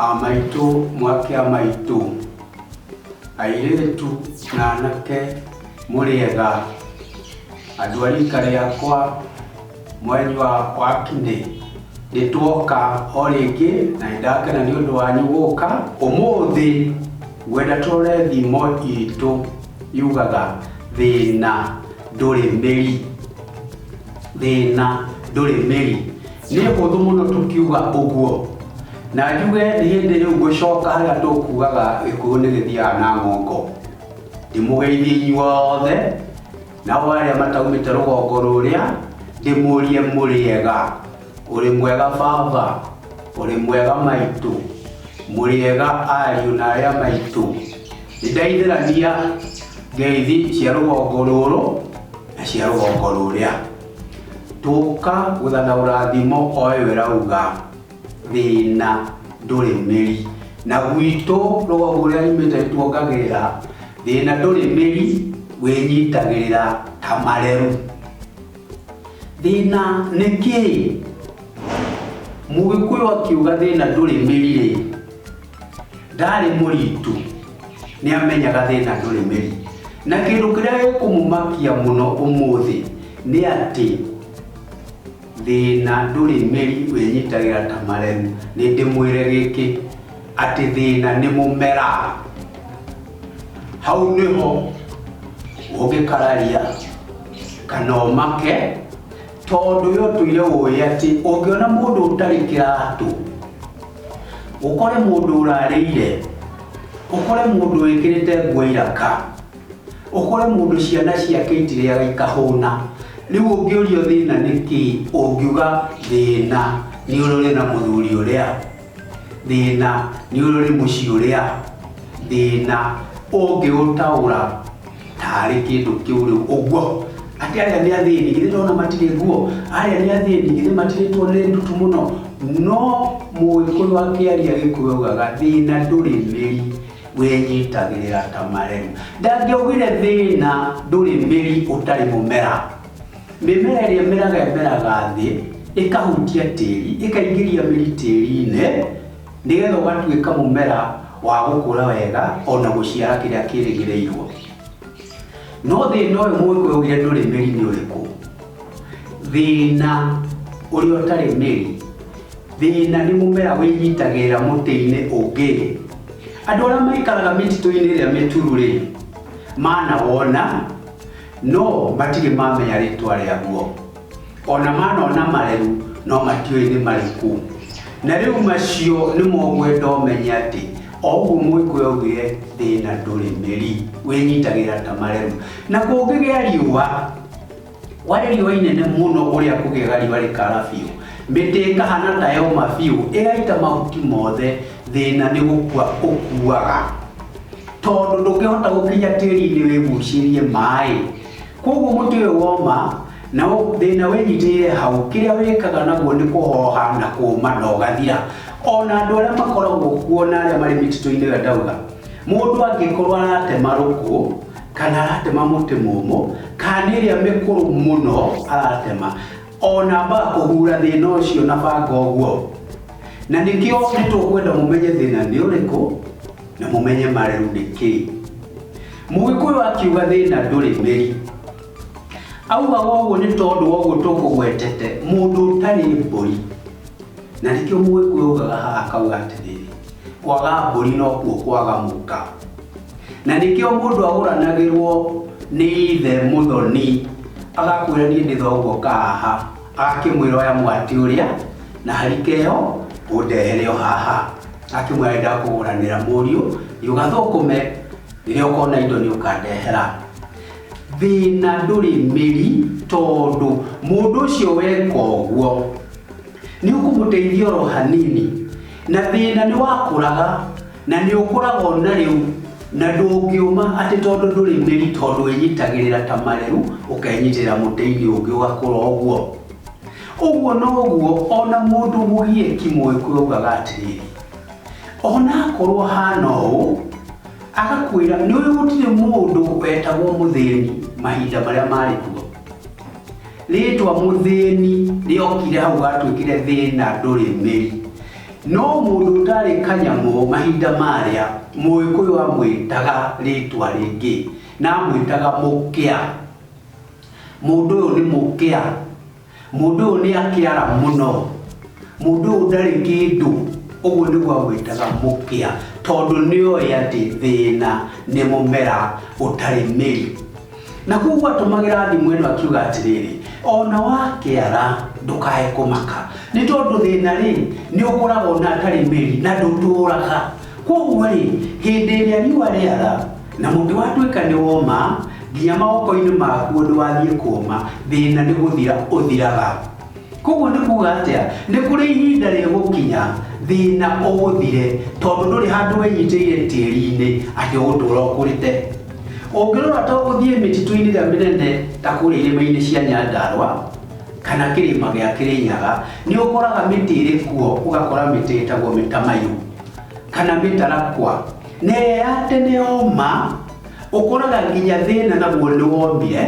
Aa maitũ mwakĩa maitũ. Airĩtu na anake mũrĩega? Andũ a rika rĩakwa mweri wa wakinĩ nĩtwoka o rĩngĩ na nĩndakena nĩ ũndũ wanyu gũka. Ũmũthĩ ngwenda tũrore thimo itũ yugaga thĩna ndũrĩ mĩri. Thĩna ndũrĩ mĩri. nĩ hũthũ mũno tũkiuga ũguo na njuge nĩ hĩndĩ rĩu ngũcoka harĩa tũkugaga gĩkũyũ nĩ gĩthiaga na ngongo ndĩmũgeithie inyuothe nao arĩa mataumĩte rũgongo rũrĩa ndĩmũrie mũrĩega ũrĩ mwega baba ũrĩ mwega maitũ mũrĩega ariũ na arĩa maitũ nĩ ndaithĩrania ngeithi cia rũgongo rũrũ na cia rũgongo rũrĩa Tũka gũtha na ũrathimo oe we rauga thĩna ndũrĩ mĩri na gwitũ rũgongo rũrĩa imĩte tuongagĩrĩra thĩna ndũrĩ mĩri wĩnyitagĩrĩra ta mareru thĩna nĩ kĩĩ mũgĩkũyũ akiuga thĩna ndũrĩ mĩri rĩ ndarĩ mũritũ nĩ amenyaga thĩna ndũrĩ mĩri na kĩndũ kĩrĩa gĩkũmũmakia mũno ũmũthĩ nĩ atĩ thĩna ndũrĩ mĩri wĩnyitagĩra ta maremu nĩ ndĩmwĩre gĩkĩ atĩ thĩna nĩ mũmera hau nĩho ũngĩkararia kana ũmake tondũ yo tũire ũĩ atĩ ũngĩona mũndũ ũtarĩ kĩratũ ũkore mũndũ ũrarĩire, ũkore mũndũ wĩkĩrĩte nguo iraka, ũkore mũndũ ciana ciake itirĩaga ikahũna, rĩu ũngĩũrio thĩna nĩ kĩĩ, ũngiuga thĩna nĩ ũrĩrĩ na mũthuri ũrĩa, thĩna nĩ ũrĩrĩ mũciĩ ũrĩa, thĩna ũngĩũtaũra. taarĩ kĩndũ kĩũrĩu ũguo atĩ arĩa nĩ athĩni githĩ ndona matirĩ nguo arĩa nĩ athĩni githĩ matirĩtwo nĩ ndutu mũno no mũgĩkũyũ akĩaria gĩkũyũ augaga thĩna ndũrĩ mĩri wĩnyitagĩrĩra ta maremu ndangĩaugire thĩna ndũrĩ mĩri ũtarĩ mũmera mĩmera ĩrĩa ĩmeraga ĩmeraga thĩ ĩkahutia tĩri ĩkaingĩria mĩri tĩri-inĩ Nĩgetha ũgatuĩka mũmera wa gũkũra wega o na gũciara kĩrĩa kĩrĩgĩrĩirwo. No thĩna ũyũ mũgĩkũyũ augire ndũrĩ mĩri nĩ ũrĩkũ? Thĩna ũrĩa ũtarĩ mĩri, thĩna nĩ mũmera wĩnyitagĩrĩra mũtĩ-inĩ ũngĩ. Andũ arĩa maikaraga mĩtitũ-inĩ ĩrĩa mĩturu rĩ, manawona no matirĩ mamenya rĩtwa rĩaguo. ona mana ona mareu no matiũĩ nĩ marĩkũ na rĩu macio nĩ mogwenda ũmenye atĩ o ũguo mũgĩkũyũ augire thĩna ndũrĩ mĩri wĩnyitagĩra ta mareu na kũngĩgĩa riũa warĩ riũa inene mũno ũrĩa kũgĩaga riũa rĩkara biũ mĩtĩ ĩkahana ta yoma biũ ĩgaita mahuti mothe thĩna nĩ gũkua ũkuaga tondũ ndũngĩhota gũkinya tĩri-inĩ wĩgucĩrie maĩ Kwoguo mũtĩ ũyũ woma na thĩna wĩnyitĩire hau, kĩrĩa wĩkaga naguo nĩ kũhoha na kũũma na ũgathira. O na andũ arĩa makoragwo kuo na arĩa marĩ mĩtitũ-inĩ ĩrĩa ndauga, mũndũ angĩkorwo aratema rũkũ kana aratema mũtĩ mũmũ, kana nĩ ĩrĩa mĩkũrũ mũno aratema, o na ambaga kũhura thĩna ũcio na banga ũguo. Na nĩkĩo nĩ tũkwenda mũmenye thĩna nĩ ũrĩkũ na mũmenye marĩu nĩ kĩĩ. Mũgĩkũyũ akiuga thĩna ndũrĩ ũgeri. Augaga ũguo nĩ tondũ wa ũguo tũkũgwetete mũndũ ũtarĩ mbũri. Na nĩkĩo mũgĩkũyũ augaga haha akauga atĩrĩrĩ, kwaga mbũri nokuo kwaga mũka. Na nĩkĩo mũndũ agũranagĩrwo nĩ ithe mũthoni, agakwĩra niĩ nĩ thoguo ũka haha, agakĩmwĩra oya mwatĩ ũrĩa na harika ĩyo ũndehere o haha. Agakĩmwĩra nĩ ndakũgũranĩra mũriũ thiĩ ũgathũkũme. rĩrĩa ũkona indo nĩ ũkandehera thĩna ndũrĩ mĩri tondũ mũndũ ũcio weka ũguo nĩ ũkũmũteithia oro hanini na thĩna nĩ wakũraga na nĩ ũkũraga ona rĩu na ndũngĩũma atĩ tondũ ndũrĩ mĩri tondũ wĩnyitagĩrĩra ta marĩu ũkenyitĩrĩra mũtĩ-inĩ ũngĩ ũgakũra ũguo ũguo noguo ona mũndũ mũgieki mũĩkũyũ augaga atĩrĩrĩ onakorwo hana ũũ agakwĩra nĩ ũĩ gũtirĩ mũndũ wetagwo mũthĩni mahinda marĩa marĩ kuo rĩtwa mũthĩni rĩokire hau gatuĩkire thĩna ndũrĩ mĩri no mũndũ ũtarĩ kanyamũ mahinda marĩa mũgĩkũyũ amwĩtaga rĩtwa rĩngĩ na amwĩtaga mũkĩa mũndũ ũyũ nĩ mũkĩa Mũndũ ũyũ nĩ akĩara mũno, mũndũ ũyũ ndarĩ kĩndũ, ũguo nĩguo agwĩtaga mũkĩa, tondũ nĩ oĩ atĩ thĩna nĩ mũmera ũtarĩ mĩri. Na koguo atũmagĩra thimo ĩno akiuga atĩrĩrĩ, ona wakĩara ndũkae kũmaka, nĩ tondũ thĩna rĩ, nĩ ũkũraga ona atarĩ mĩri na ndũtũraga. Koguo rĩ, hĩndĩ ĩrĩa riũa rĩara, Na mũngĩwatuĩka nĩ woma, nginya mawoko-inĩ maguo ndwathiĩ kũma, thĩna nĩ gũthira ũthiraga. Koguo nĩ kuga atĩa? Nĩ kũrĩ ihinda rĩgũkinya thĩna ũgũthire, tondũ ndũrĩ handũ wenyitĩire tĩri-inĩ atĩ ũgũtũra ũkũrĩte. Ũngĩrora ta ũgũthiĩ mĩtitũ-inĩ ĩrĩa mĩnene ta kũrĩa irĩma-inĩ cia Nyandarũa, kana kĩrĩma gĩa Kĩrĩnyaga, nĩ ũkoraga mĩtĩ ĩrĩ kuo, ũgakora mĩtĩ ĩtagwo mĩtamaiyũ, kana mĩtarakwa. Nea atĩ nĩ ũma, ũkũraga nginya thĩna naguo nĩ womire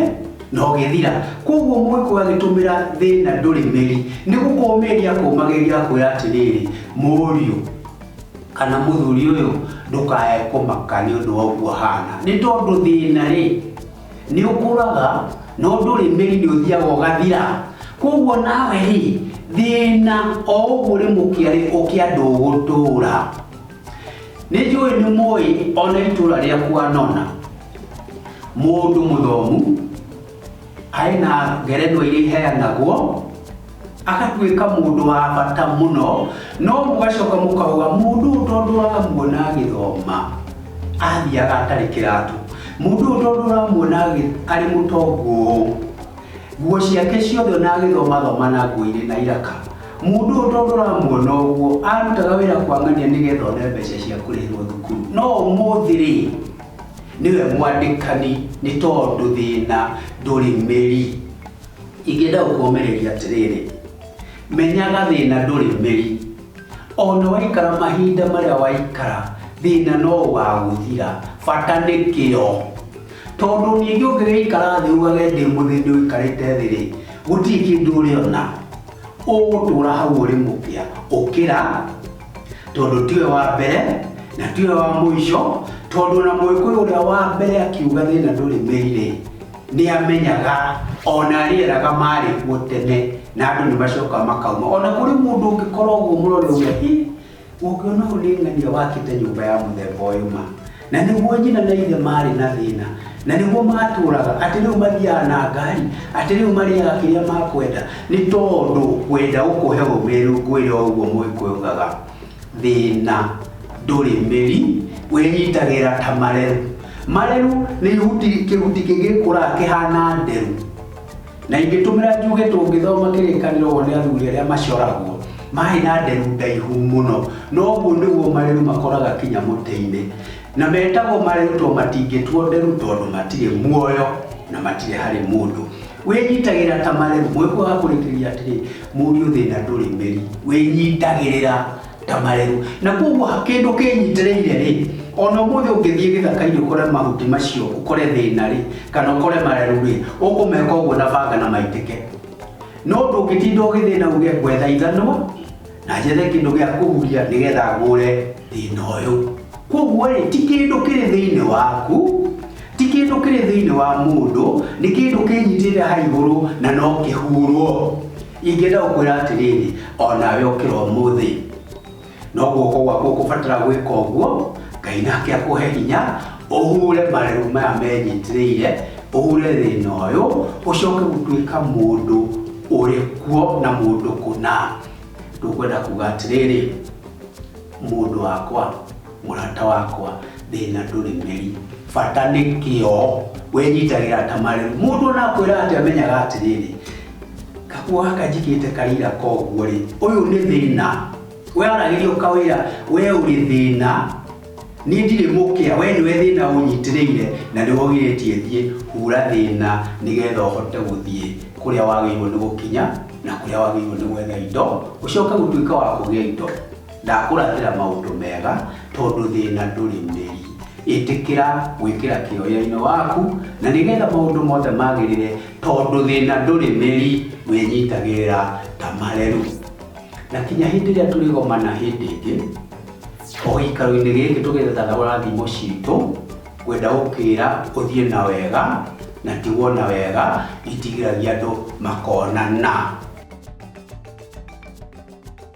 na ũgĩthira. Kwoguo Mũĩkũyũ agĩtũmĩra thĩna ndũrĩ mĩri, nĩ gũkũũmĩria akũũmagĩria akwĩra atĩrĩrĩ, Mũriũ kana mũthuri ũyũ ndũkae kũmaka nĩ ũndũ wa ũguo ũhana, nĩ tondũ thĩna rĩ, nĩ ũkũraga no ndũrĩ mĩri, nĩ ũthiaga ũgathira. Kwoguo nawe rĩ, thĩna o ũguo ũrĩ mũkĩa rĩ, ũkĩa ndũgũtũũra. nĩ njũĩ nĩ mũĩ ona itũra rĩaku anona mũndũ mũthomu arĩ na ngerenwa iria iheanagwo agatuĩka mũndũ wa bata mũno no mũgacoka mũkauga mũndũ ũyũ tondũ ũramuona agĩthoma athiaga atarĩ kĩratũ mũndũ ũyũ tondũ ũramuona agĩ- arĩ mũtongu ũũ nguo ciake ciothe ona agĩthomathoma na nguo irĩ na iraka Mũndũ ũyũ tondũ ũramuona ũguo, arutaga wĩra kwang'ania nĩgetha one mbeca cia kũrĩhĩrwo thukuru. No ũmũthĩ rĩ, nĩwe mwandĩkani nĩ tondũ thĩna ndũrĩ mĩri. Ingĩenda gũkũmĩrĩria atĩrĩrĩ, menyaga thĩna ndũrĩ mĩri. Ona waikara mahinda marĩa waikara, thĩna no ũgagũthira, bata nĩ kĩo. Tondũ ningĩ ũngĩgĩikara thĩ uugage ndĩ mũthĩni ũikarĩte thĩ rĩ, gũtirĩ kĩndũ ũrĩona. ũgũtũũra hau ũrĩ mũkĩa ũkĩra tondũ tiwe wa mbere na tiwe wa mũico tondũ na mũĩkũyũ ũrĩa wa mbere akiuga thĩna ndũrĩ mĩirĩ nĩ amenyaga ona rĩeraga marĩ kuo tene na andũ nĩ macoka makauma ona kũrĩ mũndũ ũngĩkorwo ũguo mũrore ũguo Ũngĩona ũrĩng'ania wakĩte nyũmba ya mũthemba ũyũ ma, na nĩguo nyina na ithe maarĩ na thĩna, na nĩguo maatũũraga, atĩ rĩu mathiaga na ngari, atĩ rĩu marĩaga kĩrĩa makwenda, nĩ tondũ ngwenda gũkũhe ũũmĩrĩru ngwĩre o ũguo Mũgĩkũyũ augaga, Thĩna ndũrĩ mĩri, wĩnyitagĩrĩra ta mareru. Mareru nĩ ihuti, kĩhuti kĩngĩkũraga kĩhana nderu. Na ingĩtũmĩra njuge tũngĩthoma kĩrĩkanĩro ũũ nĩ athuri arĩa macoragwo maarĩ na nderu ndaihu mũno, na ũguo nĩguo mareru makoraga kinya mũtĩ-inĩ. Na metagwo mareru tondũ matingĩtuo nderu tondũ matirĩ muoyo na matirĩ harĩ mũndũ. Wĩnyitagĩrĩra ta mareru. Mũĩkũyũ agakurĩkĩrĩria atĩrĩ, Mũriũ thĩna ndũrĩ mĩri, wĩnyitagĩrĩra. ta marĩru na koguo kĩndũ kĩnyitĩrĩire rĩ ona ũmũthĩ ũngĩthiĩ gĩthaka-inĩ ũkore mahuti macio ũkore thĩna rĩ kana ũkore marĩru rĩ ũkũmeka ũguo na banga na maitĩke no ndũngĩtinda ũgĩthĩna uge gwetha ithanwa na njethe kĩndũ gĩa kũhuria nĩgetha ngũre thĩna ũyũ koguo rĩ ti kĩndũ kĩrĩ thĩinĩ waku ti kĩndũ kĩrĩ thĩinĩ wa mũndũ nĩ kĩndũ kĩnyitĩrĩire ha igũrũ na no kĩhurwo Ingĩenda gũkwĩra atĩrĩrĩ, o nawe ũkĩra ũmũthĩ. No guoko gwaku ũkũbatara gwĩka ũguo, Ngai nake akũhe hinya, ũhure marĩru maya menyitĩrĩire, ũhure thĩna ũyũ, ũcoke gũtuĩka mũndũ ũrĩ kuo na mũndũ kũna. Tũkwenda kuga atĩrĩrĩ, mũndũ wakwa, Mũrata wakwa thĩna ndũrĩ mĩri, bata nĩ kĩo, wĩnyitagĩra ta marĩru. Mũndũ ona akwĩra atĩa menyaga atĩrĩrĩ, kaguo gaka njigĩte karĩra koguo rĩ, ũyũ nĩ thĩna. We aragĩria ũkawĩra we ũrĩ thĩna, niĩ ndirĩ mũkĩa, we nĩwe thĩna ũnyitĩrĩire na nĩwe ũgirĩtie thiĩ. Hura thĩna nĩgetha ũhote gũthiĩ kũrĩa wagĩrĩirwo nĩ gũkinya na kũrĩa wagĩrĩirwo nĩ gwetha indo, ũcoke gũtuĩka wa kũgĩa indo. Ndakũrathĩra maũndũ mega, tondũ thĩna ndũrĩ ũreri. Ĩtĩkĩra gwĩkĩra kĩyo wĩra-inĩ waku, na nĩgetha maũndũ mothe magĩrĩre, tondũ thĩna ndũrĩ mĩri, wĩnyitagĩrĩra ta mareru. Na kinya hĩndĩ ĩrĩa tũrĩgomana hĩndĩ ĩngĩ, o gĩikaro-inĩ gĩkĩ tũgĩetha rathimo citũ, ngwenda gũkĩra ũthiĩ na wega, na tigwo na wega, itigĩragia andũ makonana.